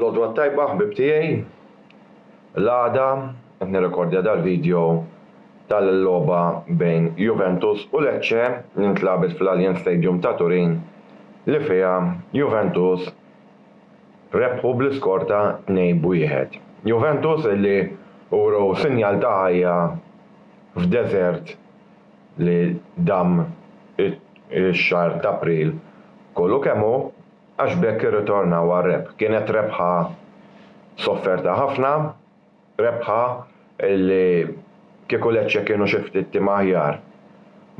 L-għodwa tajba ħbib tiegħi. L-għada qed nirrekordja dal-video tal-logħba bejn Juventus u Lecce li ntlagħbet fl-Allianz Stadium ta' Turin li fiha Juventus rebħu bl-iskor ta' 2 b'wieħed. Juventus li wrew sinjal ta' ħajja f'deżert li dam ix-xahar t'April kollu kemm hu għax b'hekk irritornaw għar-rebħ. Kienet rebħa sofferta ħafna, rebħa li kieku Lecce kienu xi ftit tim aħjar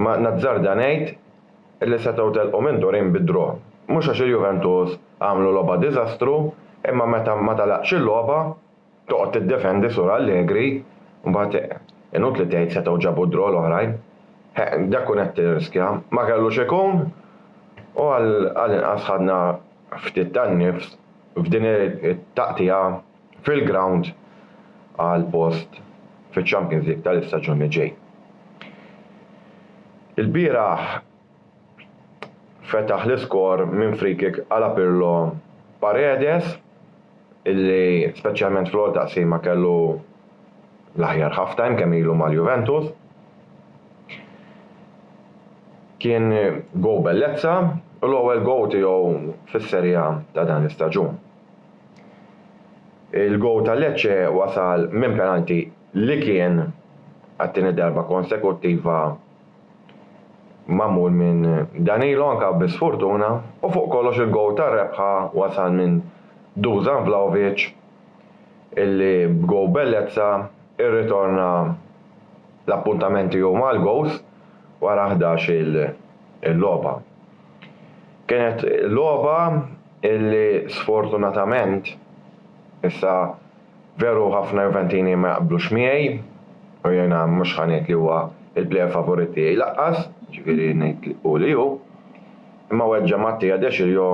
ma nazzarda ngħid li setgħu telqu minn Turin bi draw. Mhux għax il-Juventus għamlu logħba diżastru imma meta ma telaqx il-logħba, Toqgħod tiddefendi Sur Allegri u mbagħad inutli tgħid setgħu ġabu d-draw l-oħrajn. Heq, dak kont qed tirriskja. Ma kellux ikun u għal inqas ħadna ftit tan-nifs f'din it-taqtigħa fil-grawnd għal post fiċ-Champions League tal-istaġun li ġej. Ilbieraħ. fetaħ l-iskor minn free kick għala Pirlo Paredes illi speċjalment fl-ewwel taqsima kellu l-aħjar half time kemm ilu mal-Juventus. Kien go bellezza u l-ewwel go tiegħu fis-Serie A ta' dan l-istaġun. Il-go ta' Lecce wasal minn penalti li kien għat-tieni darba konsekuttiva magħmul minn Danilo anke bi sfurtuna u fuq kollox il-gowl tar-rebħa wasal minn Dusan Vlahovic illi b'gowl bellezza rritorna l-appuntament tiegħu mal-gowls wara ħdax il logħba. Kienet logħba illi sfortunatament issa Veru ħafna Juventini ma jaqblux miegħi u jiena mhux ħa ngħid li huwa l-plejer favorit tiegħi laqqas, jiġifieri ngħid li hu li hu. Imma weġġa' Mattia De Sciglio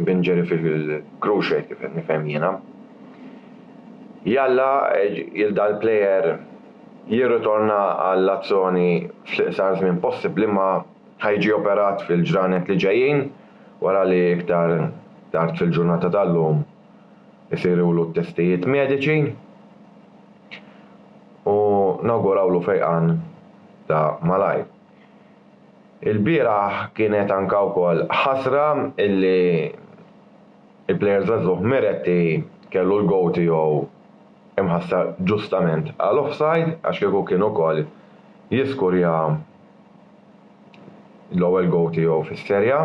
bin ġeri fil-cruce kif qed nifhem jiena. Jalla il dal-plejer jirritorna għall-azzoni fl-iqsar żmien possibbli imma ħa jiġi operat fil-ġranet li ġejjin wara li iktar tard fil-ġurnata tal-lum isirulu t-testijiet mediċi u nawgurawlu fejqan ta' malajr. Ilbieraħ kienet anka wkoll ħasra illi il-plejer żagħżugħ Miretti kellu l-gowl tiegħu imħassar ġustament għal offside għax kieku kien ukoll jiskurja l-ewwel gowl tiegħu fis-Serie A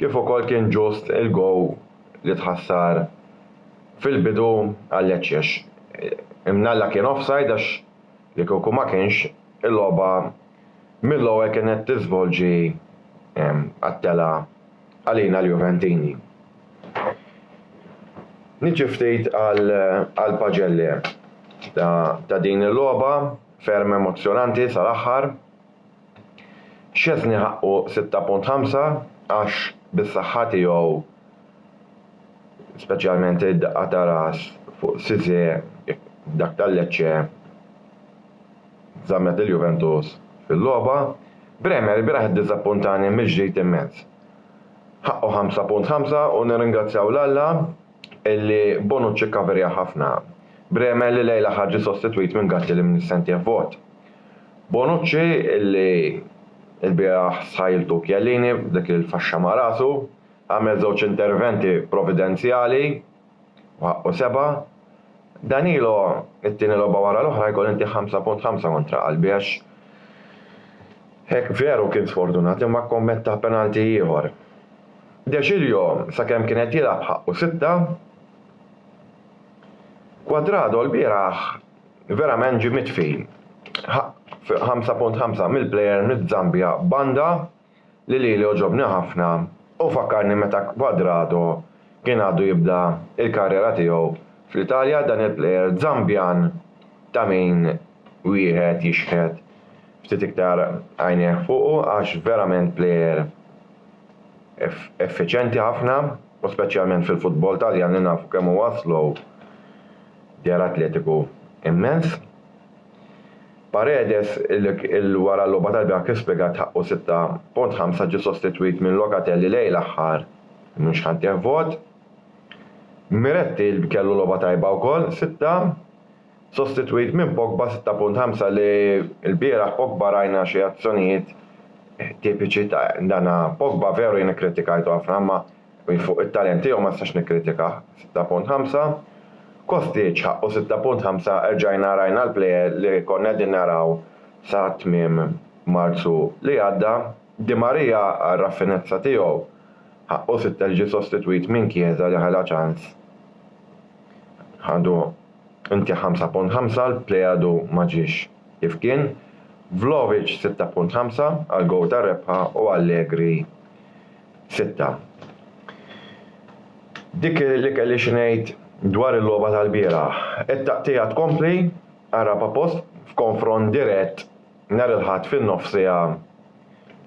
kif ukoll kien ġust il-gowl li tħassar fil-bidu għal Leccex. Imnalla kien offside għax li kieku ma kienx il-logħba mill-ewwel kienet tiżvolġi għat-telgħa għalina l-Juventini. Niġi ftit għal paġelle ta' din il-logħba ferm emozzjonanti sal-aħħar. Szczesny ħaqqu 6.5 għax bis-saħħa tiegħu, speċjalment id-daqqa ta' ras fuq Cisse f'dak ta' Lecce żammet lil Juventus fil-logħba. Bremer il-bieraħ iddiżappuntani mill-ġdid immens. Ħaqqu 5.5 u nirringrazzjaw 'l Alla illi Bonucci kkaverja ħafna Bremer li lejl l-aħħar ġie sostitwit minn Gatti li mnissentih vot. Bonucci li lbieraħ sħajltu Chiellini b'dik il-faxxa ma' rasu, għamel żewġ interventi providenzjali u ħaqqu sebgħa. Danilo it-tieni logħba wara l-oħra jkoll inti 5.5 kontra qalbi għax hekk veru kien sfortunat imma kkommetta penalti ieħor. De Sciglio sakemm kien qed jilgħab ħaqqu sitta. Cuadrado lbieraħ Verament ġie mitfi. 5.5 mill-plejer miż-Żambja banda li lili għoġobni ħafna u fakkarni meta Cuadrado kien għadu jibda l-karriera tiegħu fl-Italja dan il-plejer Żambjan ta' min wieħed jixħet ftit iktar għajnejh fuqu għax verament plejer effiċjenti ħafna. u speċjalment fil-futbol Taljan li nafu kemm huwa slow, djar atletiku immens. Paredes, li wara l-logħba tal-bieraħ kif spjegat ħaqqu 6.5 ġie sostitwit minn Locatelli lejl aħħar mhux ħa ntih vot. Miretti li kellu logħba tajba wkoll, sitta. Sostitwit minn Pogba 6.5 li lbieraħ Pogba rajna xi azzjonijiet tipiċi ta' dan Pogba veru jien ikkritikajtu ħafna imma fuq it-talent tiegħu ma nistax nikkritikah 6.5 Kostic ħaqqu 6.5 erġajna rajna l-plejer li konna qegħdin naraw sa tmiem Marzu li għadda Di Maria għar-raffinezza tiegħu ħaqqu 6 li ġie sostitwit minn Chiesa li ħela ċans ħadu Inti 5.5 l-Plejadu ma ġiex kif kien, Vlahovic 6.5 għall-gowl tar-rebħa u Allegri sitta. Dik li kelli xi ngħid dwar il-logħba tal-bieraħ. It-taqtigħa tkompli, ara Papost f'konfront dirett nhar il-Ħadd fin-nofsiegħa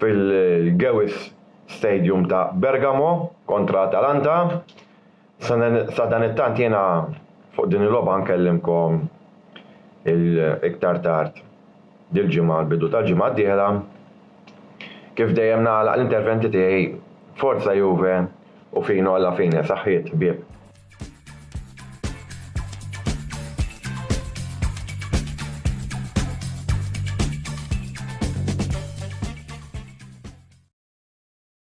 fil-Gewiss Stadium ta' Bergamo kontra Atalanta. Sadanittant jiena fuq din il-logħba nkellimkom iktar tard dil-ġimgħa l-bidu tal-ġimgħa d-dieħla. Kif dejjem nagħlaq l-interventi tiegħi Forza Juve u Fino alla fine, saħħiet ħbieb.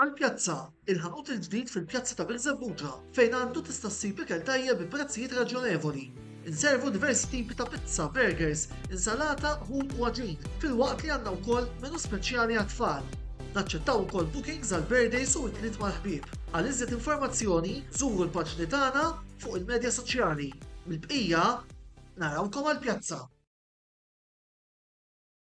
Għall-pjazza, il-ħanut il-ġdid fil-pjazza ta' Birżebbuġa fejn għandu tista' ssib ikel tajjeb bi prezzijiet raġjonevoli. Inservu diversi tipi ta' pizza, burgers, insalata, ħut u għaġin, filwaqt li għandna wkoll menu speċjali għat-tfal. Naċċettaw ukoll bookings għal birthdays u ikliet mal-ħbieb. Għal iżjed informazzjoni, żuru l-paġni tagħna fuq il-medja soċjali. Mill-bqija, narawkom għall-pjazza!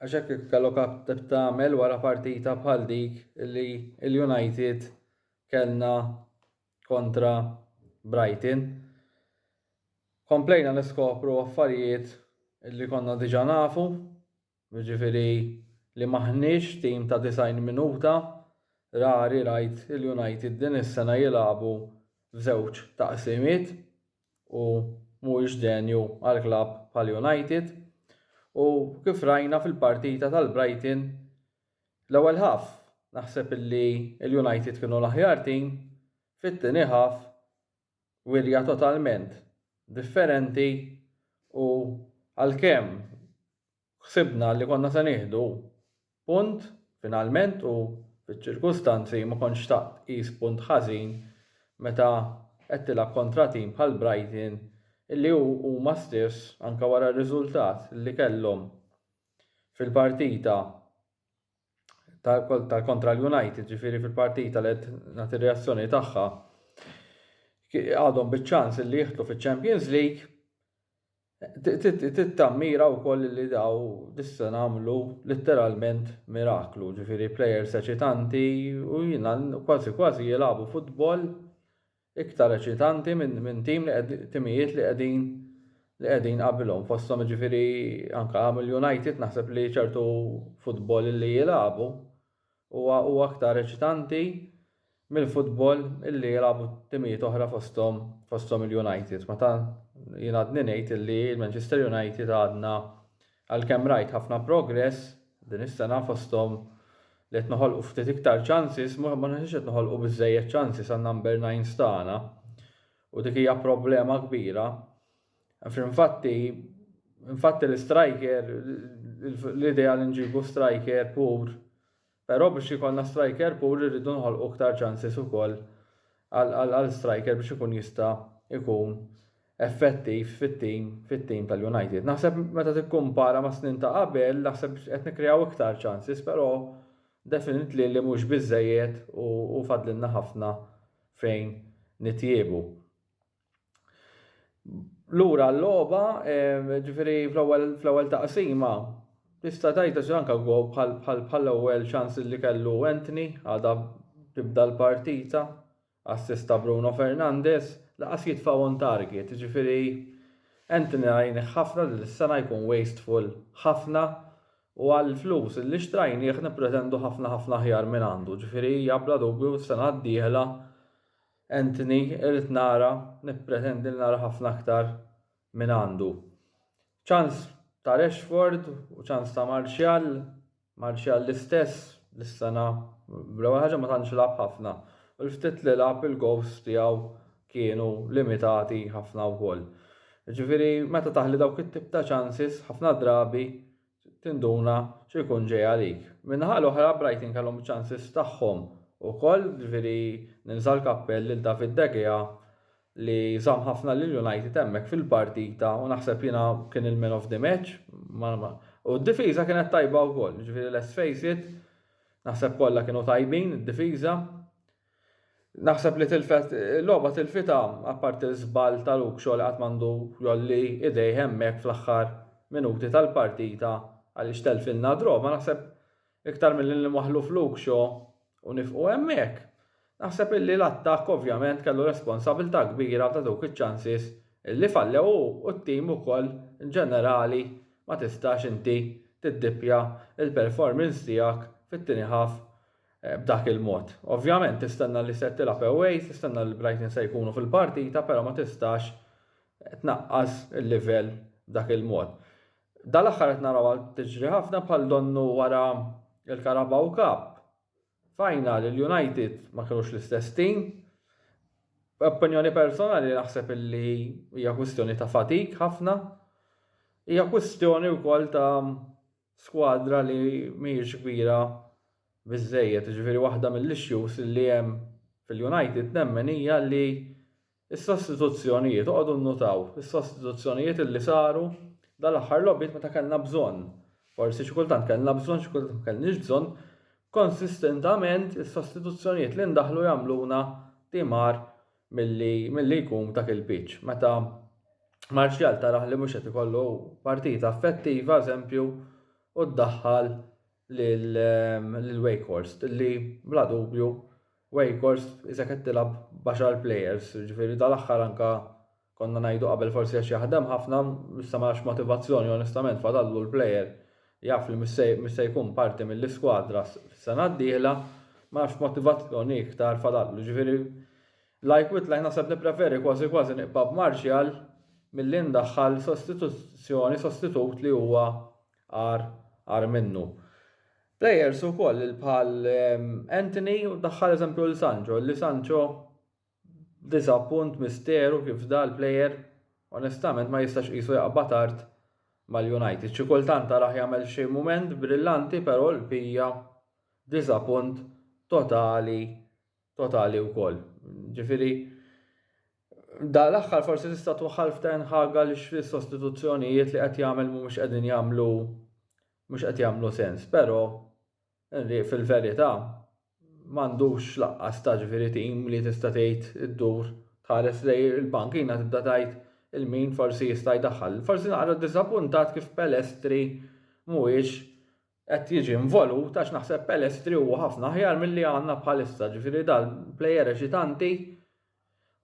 Għax hekk kif kellok għad tagħmel wara partita bħal dik li l-United kellna kontra Brighton. Komplejna niskopru affarijiet li konna diġà nafu, jiġifieri li m'aħniex tim ta' 90 minuta, rari rajt il-United din is-sena jilagħbu f'żewġ taqsimiet. u mhuwiex denju għal klabb bħal United u kif rajna fil-partita tal-Brighton l-ewwel half naħseb illi l-United kienu l-aħjar tim, fit-tieni half wirja totalment differenti u għalkemm Ħsibna li konna se nieħdu punt finalment u fiċ-ċirkustanzi ma kontx xtaqt tqis punt ħażin meta qed tilgħab kontra tim bħal Brighton illi hu huma stess anke wara r-riżultat li kellhom fil-partita ta' ta' kontra l-United ġifieri fil-partita li qed nagħti r-reazzjoni tagħha ki- għadhom biċ-ċans illi jidħlu fiċ-Champions League Tittammira wkoll li daw dis-sena għamlu litteralment miraklu, ġifieri plejers eċitanti u jiena kważi kważi jilagħbu futbol iktar eċitanti minn tim li timijiet li qegħdin li qegħdin qabilhom fosthom jiġifieri anke mill-United naħseb li ċertu futbol li jilagħbu Huwa hu aktar eċitanti mill-futbol illi jilagħbu timijiet oħra fosthom fosthom il-United. Meta jien għadni ngħid illi l-Manchester United għadna għalkemm rajt ħafna progress din is-sena fosthom li qed noħolqu ftit iktar ċansis ma naħsibx qed noħolqu biżżejjed ċansis għan-number nines tagħna u dik hija problema kbira. Fl-infatti, infatti l-striker, l-idea li nġibu striker pur, però biex jkollna striker pur irridu nħolqu iktar ċansis ukoll għal striker biex ikun jista' jkun effettiv fit-tim fit-tim tal-United. Naħseb meta tikkumpara ma' snin ta' qabel, naħseb qed nikkreaw iktar ċansis, però definitely li mhux biżejjed u fadlilna ħafna fejn nitjiebu. Lura l-logħba, ġifieri fl-ewwel fl-ewwel taqsima, tista' tgħid għax anke gol bħall-ewwel ċans li kellu Anthony għadha tibda l-partita, assist ta' Bruno Fernandes, laqas jitfa' on target, ġifieri Anthony rajnih ħafna din is-sena jkun wasteful ħafna u għall-flus li xtrajnieh nippretendu ħafna ħafna aħjar minn għandu, ġifieri hija bla dubju s-sena d-dieħla Anthony, Irrid nara, nippretendi li nara ħafna aktar mingħandu. Ċans ta' Rashford u ċans ta' Martial, Martial l-istess, dis-sena bl-ewwel ħaġa ma tantx lagħab ħafna u l-ftit li lagħab il-gowls tiegħu kienu limitati ħafna wkoll. Ġifieri meta taħli dawk it-tip ta' ċansis ħafna drabi tinduna xi jkun ġej għalik. Min-naħa l-oħra, Brighton kellhom iċ-ċansis tagħhom ukoll, jiġifieri nilża' l-kappell lil David De Gea li żamm ħafna lil United hemmhekk fil-partita u naħseb jiena kien il-man of the match. U d-difiża kienet tajba wkoll, jiġifieri let's face it, naħseb kollha kienu tajbin id-difiża. Naħseb li tilfet il-logħba tilfitha apparti l-żball ta' Luxo li qatt m'għandu jgħolli idejh hemmhekk fl-aħħar minuti tal-partita għaliex telfilna draw ma naħseb iktar milli lil Maħluf Luxo u nifqu hemmhekk naħseb illi l-attakk ovvjament kellu responsabilità kbira ta' dawk iċ-chances illi fallew hu u t-team ukoll inġenerali ma tistax inti tiddippja l-performance tiegħek fit-tieni half b'dak il-mod. Ovvjament tistenna li se tilgħab away, tistenna li Brighton se jkunu fil-partita però ma tistax tnaqqas il-livell b'dak il-mod. Dal-aħħar qed narawha tiġri ħafna bħal donnu wara l-Carabao Cup. Final il-United ma kinux l-istess tim. Opinjoni personali naħseb illi hija kwistjoni ta' fatik ħafna. Hija kwistjoni wkoll ta' skwadra li mhijiex kbira biżżejjed, jiġifieri waħda mill-issues li hemm fil-United nemmen hija li s-sostituzzjonijiet, oqogħdu nnutaw, is-sostituzzjonijiet li saru dal-aħħar logħbiet meta kellna bżonn, forsi xi kultant kellna bżonn xi kultant ma kellniex bżonn, konsistentament is-sostituzzjonijiet li ndaħħlu jagħmluna timgħar milli milli jkun dak il-pitch. Meta Martial tarah li mhux qed ikollu partita effettiva, eżempju, u ddaħħal lil lil Wakehorst li bla dubju Wakehorst isek qed tilgħab b'għaxar players, jiġifieri dal-aħħar anke konna ngħidu qabel forsi għax jaħdem ħafna, issa ma nafx motivazzjoni onestament fadallu l-player Jaf li mhux se jkun parti mill-iskwadra s-sena d-dieħla, ma nafx x'motivazzjoni iktar fadallu. Jiġifieri la jkwit la naħseb nippreferi kważi kważi nibqa' b'Martial milli ndaħħal sostituzzjoni, sostitut li huwa agħar, agħar minnu. Players ukoll bħal Antony u ddaħħal eżempju lil Sancho, illi Sancho Disa' punt misteru kif da' l-player onestament ma jistax qisu jaqbad art mal-United. Xi kultant tarah jagħmel xi mument brillanti pero' l-bqija disa' punt totali totali wkoll. Ġifieri da' l-aħħar forsi tista' twaħħal f'Ten Hag għaliex is-sostituzzjonijiet li qed jagħmel mhumiex qegħdin jagħmlu mhux qed jagħmlu sens pero' Li fil-verità m'għandux lanqas ta' ġifieri tim li tista' tgħid iddur tħares lejn il-pankina tibda tgħid il min forsi jista' jdaħħal. Forsi naqra ddiżappuntat kif Pellestri mhuwiex qed jiġi involut għax naħseb Pellestri huwa ħafna aħjar milli għandna bħalissa, ġifieri dal-plejer eċitanti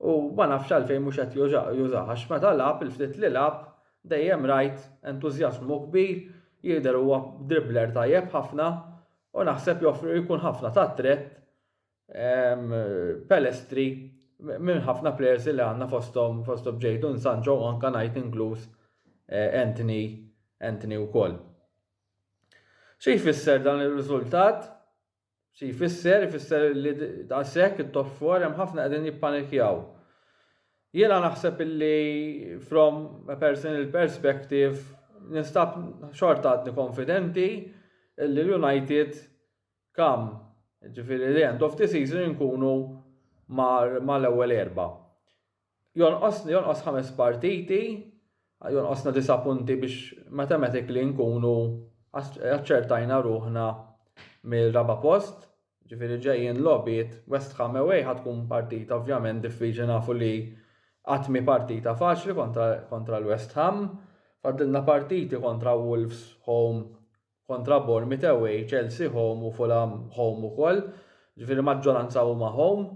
U ma nafx għalfejn mhux qed jużah għax meta lagħab, il-ftit li lagħab, dejjem rajt entużjażmu kbir, jidher huwa dribbler tajjeb ħafna u naħseb joffri u jkun ħafna ta' ttrett Pellistri minn ħafna plejers li għandna fosthom fosthom Jadon Sancho u anke ngħid inkluż Antony Antony wkoll. Xi jfisser dan ir-riżultat? Xi jfisser? Ifisser li daqshekk it-top four hemm ħafna qegħdin jippanikjaw. Jiena naħseb illi from a personal perspective ninstab xorta għadni konfidenti illi l-United kam ġifieri the end of the season inkunu mal-ewwel erba'. Jonqosni, jonqos ħames partiti, jonqosna disa' punti biex matematically nkunu aċċertajna ruħna mir-raba' post, ġifieri ġejjin logħbiet West Ham away ħa tkun partita ovvjament diffiċli nafu li qatt mhi partita faċli kontra, kontra l-West Ham. Fadlilna partiti kontra Wolves home, kontra Bournemouth away, Chelsea home u Fulham home ukoll, ġifieri maġġoranza huma home.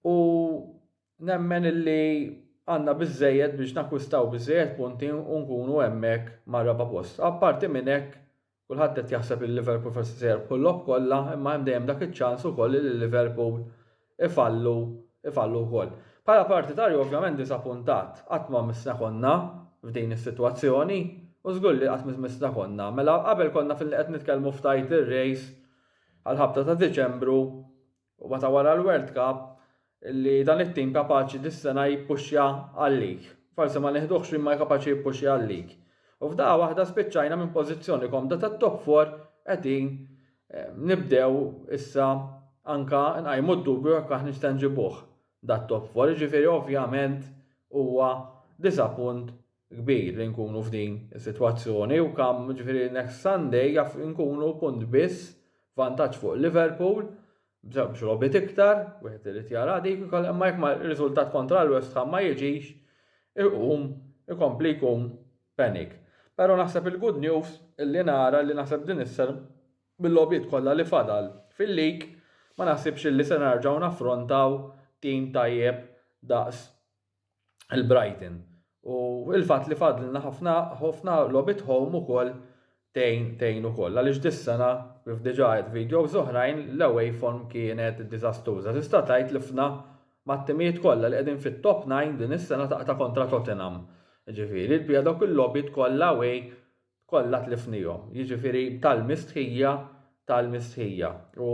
U nemmen illi għandna biżżejjed biex nakkwistaw biżżejjed punti u nkunu hemmhekk mar-raba' post. Apparti minn hekk, kulħadd qed jaħseb li Liverpool forsi se jirbħu l-logħob kollha imma hemm dejjem dak iċ-ċans ukoll illi Liverpool ifallu ifallu wkoll. Bħala partitarju ovvjament disapuntat. Qatt ma missna konna f'din is-sitwazzjoni u żgur li qatt missna konna. Mela qabel konna fil qed nitkellmu f'title race għall-ħabta ta' Diċembru U meta wara l-World Cup li dan it-tim kapaċi dis-sena jippuxja għal-lig. Forsi ma nieħduhx imma kapaċi jippuxja għal-lig. U f'daqqa waħda spiċċajna minn pożizzjoni komda tat-top four qegħdin eh, nibdew issa anka nqajmu d-dubju jekk aħna nista' nġibuh dat-top four. Ġifieri ovvjament huwa diżappunt kbir li nkunu f'din is-sitwazzjoni u kam ġifieri next Sunday jaf inkunu punt biss vantaġġ fuq Liverpool b'żewġ logħbiet iktar, wieħed irid jara dik ukoll imma jekk ma riżultat kontra l-West Ham ma jiġix iqum ikompli jkun panic. Però naħseb il-good news li nara li naħseb din is-sena bil-logħbiet kollha li fadal fil-league ma naħsibx li se nerġgħu naffrontaw tim tajjeb daqs il-Brighton. U il-fatt li fadlna ħafna ħafna logħbiet home ukoll tgħin tgħin ukoll. Għaliex dis-sena kif diġà għedt videos oħrajn l-away form kienet diżastruża. Tista' tgħid li fna mat-timijiet kollha li qegħdin fit-top nine din is-sena taqta' kontra Tottenham. Jiġifieri l-pija dawk il-logħbiet kollha away kollha tlifnihom. Jiġifieri tal-mistħija tal-mistħija. U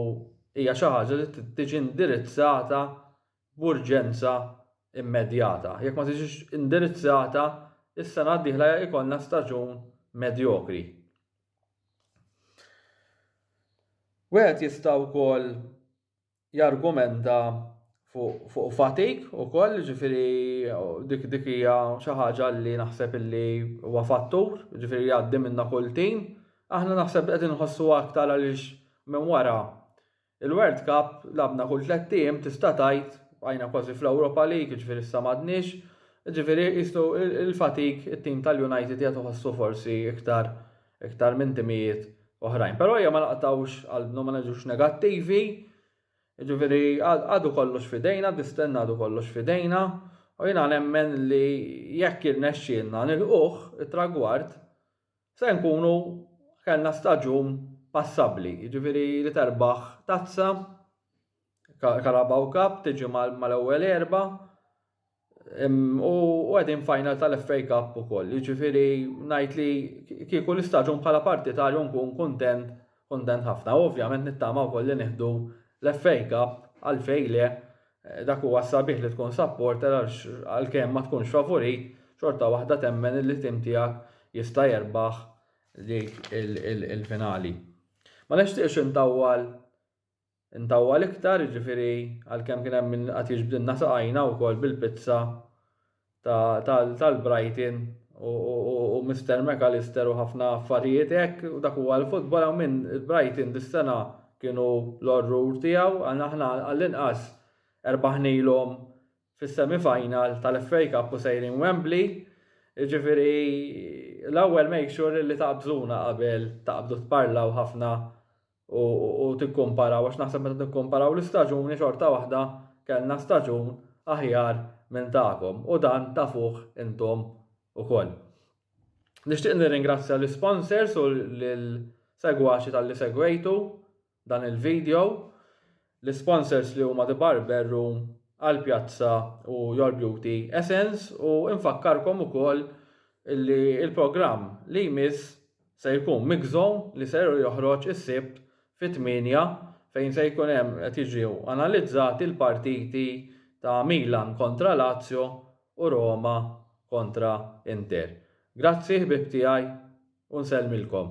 hija xi ħaġa li tiġi indirizzata b'urġenza immedjata. Jekk ma tiġix indirizzata, is-sena d-dieħla jkollna staġun medjokri. Wieħed jista' wkoll jargumenta fuq fu fatik ukoll, ġifieri dik dik hija xi ħaġa li naħseb illi huwa fattur, ġifieri jgħaddi minna kull tim. Aħna naħseb qed inħossu aktar għaliex minn wara Il-World Cup lagħbna kull tlett ijiem tista' tgħid, bqajna kważi fl-Europa League jiġifieri issa m'għadniex, jiġifieri qisu l-fatig it-tim tal-United qiegħed iħossu forsi iktar iktar minn timijiet oħrajn. Però ejja ma naqtgħux qalbna u ma neġux negattivi, jiġifieri għadu kollox f'idejna, distenna għadu kollox f'idejna u jiena nemmen li jekk jirnexxielna nilħquh it-tragward, Se nkunu kellna staġun passabbli, jiġifieri li terbaħ tazza, Carabao Cup tiġi mal-ewwel erba' u qegħdin final tal-FA Cup ukoll. Jiġifieri ngħid li kieku l-istaġun bħala partitarju nkun kuntent Kuntent ħafna u ovvjament nittama wkoll li nieħdu l-FA Cup għalfejn le dak huwa s-sabiħ li tkun supporter għax għalkemm ma tkunx favorit xorta waħda temmen li tim tiegħek jista' jerbaħ dik il-finali. Ma nixtieqx intawwal Intawwal iktar, jiġifieri għalkemm kien hemm min qagħad jiġbdilna saqajna wkoll bil-pizza tal-Brighton u Mister McAllister u ħafna affarijiet hekk u dak huwa l-futbol hawn min il-Brighton dis-sena kienu l-orrur tiegħu għal aħna għall-inqas erbaħnilhom fis-semi final tal-FA Cup u sejrin Wembley jiġifieri l-ewwel make sure li taqbżuna qabel taqbdu tparlaw ħafna u tikkumparaw għax naħseb meta nikkumparaw l-istaġuni xorta waħda kellna staġun aħjar minn tagħkom u dan tafuh intom ukoll. Nixtieq nirringrazzja l-isponsors u lill-segwaċi talli segwejtu dan il-video. L-isponsors li huma The Barber Room, Al Piazza u Your Beauty Essence u infakkarkom ukoll li l-programm li jmiss se jkun Mixzone li ser joħroġ is-Sibt fit-tmienja fejn se jkun hemm qed jiġew analizzati l-partiti ta' Milan kontra Lazio u Roma kontra Inter. Grazzi ħbieb tiegħi u nsellmilkom.